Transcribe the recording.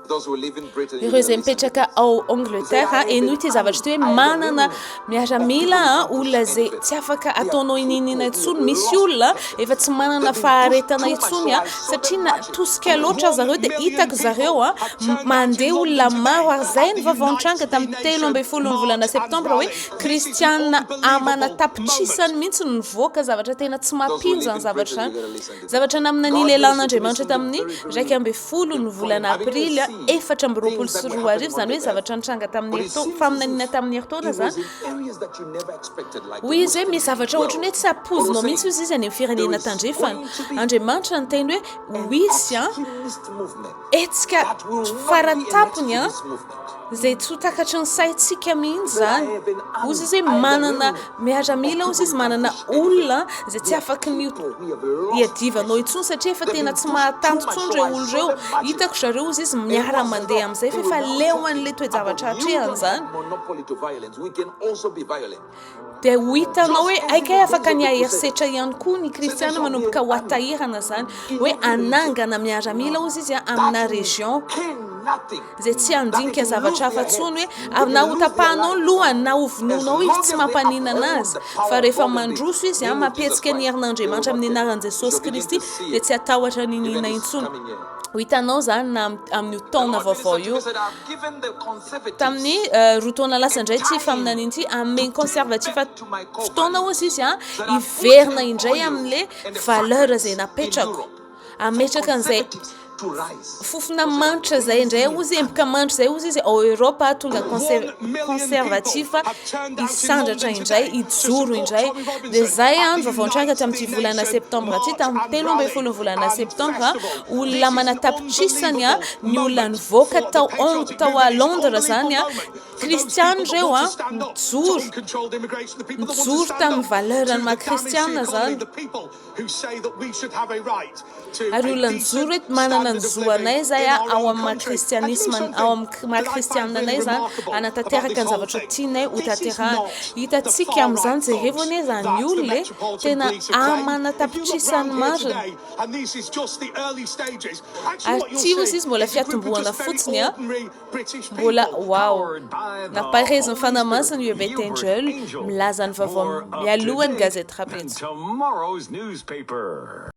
Ireo izay mipetraka ao Angleterre, henoy ity zavatra ity hoe manana miaramila olona izay tsy afaka ataonao inininina intsony. Misy olona efa tsy manana faharetana intsony satria na tosika loatra zareo dia hitako zareo mandeha olona maro ary izay ny vaovao nitranga tamin'ny telo ambin'ny folon'ny volana septambra hoe Kristianina amana tapitrisany mihitsy no nivoaka, zavatra tena tsy mampino izany zavatra izany. Zavatra namina nilelanin'Andriamanitra tamin'ny iraika ambin'ny folo ny volana aprily efatra amby roapolo sy roa arivo, izany hoe zavatra nitranga tamin'ny herintaona, faminaniana tamin'ny herintaona izany. Hoy izy hoe misy zavatra ohatran'ny hoe tsy ampoizinao mihitsy hoy izy any amin'ny firenena tandrefana. Andriamanitra niteny hoe ho hisy. Hetsika faran'ny tapony an, izay tsy ho takatry ny saintsika mihitsy izany, ozy izy hoe manana miaramila, ozy izy manana olona izay tsy afaky ny hiadivanao intsony satria efa tena tsy mahatanty intsony ireo olona ireo, hitako zareo ozy izy miara mandeha amin'izay fa efa leo an'ilay toe-javatra hatrehany izany. Dia ho hitanao hoe aika e, afaka ny haherisetra ihany koa ny kristiana manomboka ho atahirana izany hoe hanangana miaramila ozy izy amina région izay tsy handinika zavatra hafa tsony hoe avy na ho tapahanao ny lohany na ho vonoanao izy tsy mampaninana azy fa rehefa mandroso izy a mampihetsika ny herin'andriamanitra amin'ny anaran'i jesosy kristy dia tsy hatahotra ny nina intsony ho hitanao izany na amin'io taona vaovao io Tamin'ny roa taona lasa indray ity faminaniana ity amin'ny conservatif fotoana hozy izy an hiverina indray amin'le valeur izay napetrako ametraka an'izay fofona manitra zay indray ozy emboka manitra zay ozy izy ao eropa tonga conservatif hisandratra indray hijoro indray de zay any vavaontranga tamin'ity volana septembre ty tamin'ny telo ambe folo volana septembre olona manatapitrisany a ny olona nivoaka tao Hong tao à Londres zany a kristiana ireo a mijoro mijoro tamin'ny valeur ny maha kristiana zany ary olona nijoro hoe manana ny zo anay zay a ao amin'ny maha kristianisme ao amin'ny maha kristiana anay zany hanatanteraka ny zavatra tianay ho tanterahana hitantsika amin'izany jereo anie zany olona e tena amanatapitrisany marina Ary tsy ozy izy mbola fiatombohana fotsiny an! Mbola wow! Nampaherezin'ny Fanahy Masina i Ebeth Angel milaza ny vaovao mialohan'ny gazety rahampitso.